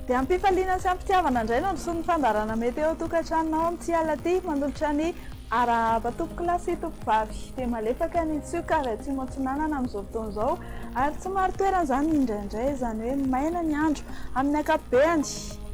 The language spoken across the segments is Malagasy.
Dia am-pifaliana sy am-pitiavana indray no nisoa ny fandaharana mety eo an-tokantranonao amin'ity alina ity manolotra ny arahaba tompokolahy sy tompovavy be malefaka ny Tsioka avy aty Montsinanana amin'izao fotoana izao ary tsy marin-toerana izany indraindray izany hoe maina ny andro amin'ny ankapobeny.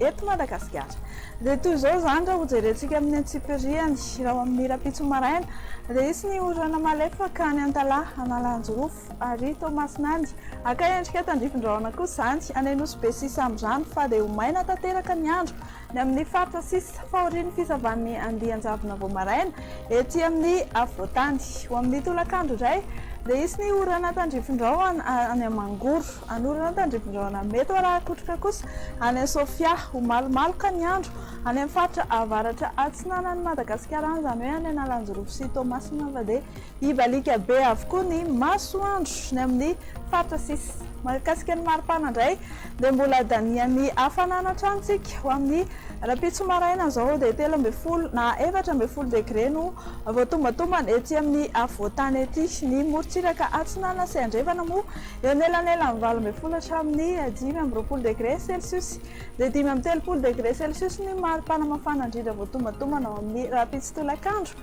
eto Madagasikara. Dia toy izao izany raha hojerentsika amin'ny antsipiriany, raha ho amin'ny rahampitso maraina, dia hisy ny orana malefaka any Antalaha, Analanjirofo, ary Toamasina any. Haka endrika tandrifin-drahona kosa izany any Anosibe sy Samborano, fa dia ho maina tanteraka ny andro ny amin'ny faritra sisa fahorian'ny fisavan'ny andian-javona vao maraina ety amin'ny afovoan-tany. Ho amin'ny tolakandro indray dia hisy ny orana tandrifin-drahona any Mangoro. Anorina ny tandrimbin-drahona mety ho rakotroka kosa any amin'ny Sofia. Ho malomaloka ny andro any amin'ny faritra avaratra atsinanan'i Madagasikara, any izany hoe any Analanjirofo sy Toamasina, fa dia hibaliaka be avokoa ny masoandro ny amin'ny faritra sisa. Mahakasika ny maripana indray dia mbola danihan'ny hafanana hatrany isika. Ho amin'ny rahampitso maraina izao dia telo ambin'ny folo na efatra ambin'ny folo degre no vao tombatombana ety amin'ny afovoan-tany ety. Ny morontsiraka atsinanana sy andrefana moa Eo anelanelan'ny valo ambin'ny folo hatramin'ny dimy amby roapolo degre celsius dia dimy amby telopolo degre celsius ny maripana mafana indrindra voatombantombana ao amin'ny rahampitso tolakandro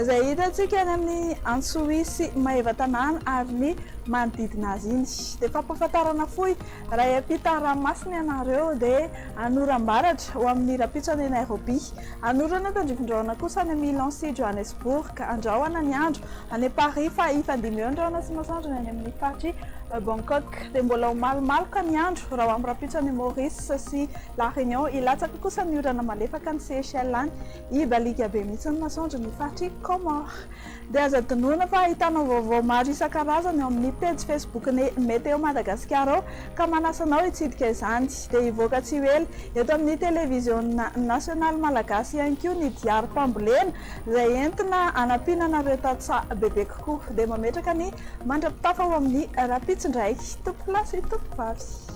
izay hitantsika any amin'ny Antsohihy sy Maevatanàna ary ny manodidina azy iny. Dia fampahafantarana fohy, raha hiampita ranomasina ianareo dia any oram-baratra ho amin'ny rahampitso any Nairobi, any oran'Antandrifindraona kosa any Milan sy Johannesburg andrahona ny andro. Any Paris fa hifandimby eo ny rahona sy ny masoandro ny any amin'ny faritr'i Bangkok. Dia mbola ho malomaloka ny andro raha ho amin'ny rahampitso any Maurice sy La Réunion. Hilatsaka kosa ny orana malefaka any Seychelles any. Hibaliaka be mihitsy ny masoandro ny faritr'i Comores. Dia aza adinoina fa ahitanao vaovao maro isan-karazany ao amin'ny pejy Facebook-n'ny Météo Madagasikara ao ka manasa anao hitsidika izany. Dia hivoaka tsy ho ela eto amin'ny Televiziona Nasionaly Malagasy ihany koa ny diarim-pambolena izay entina hanampiana anareo tantsaha bebe kokoa dia mametraka ny mandra-pitafa ao amin'ny rahampitso indray tompolahy sy tompovavy.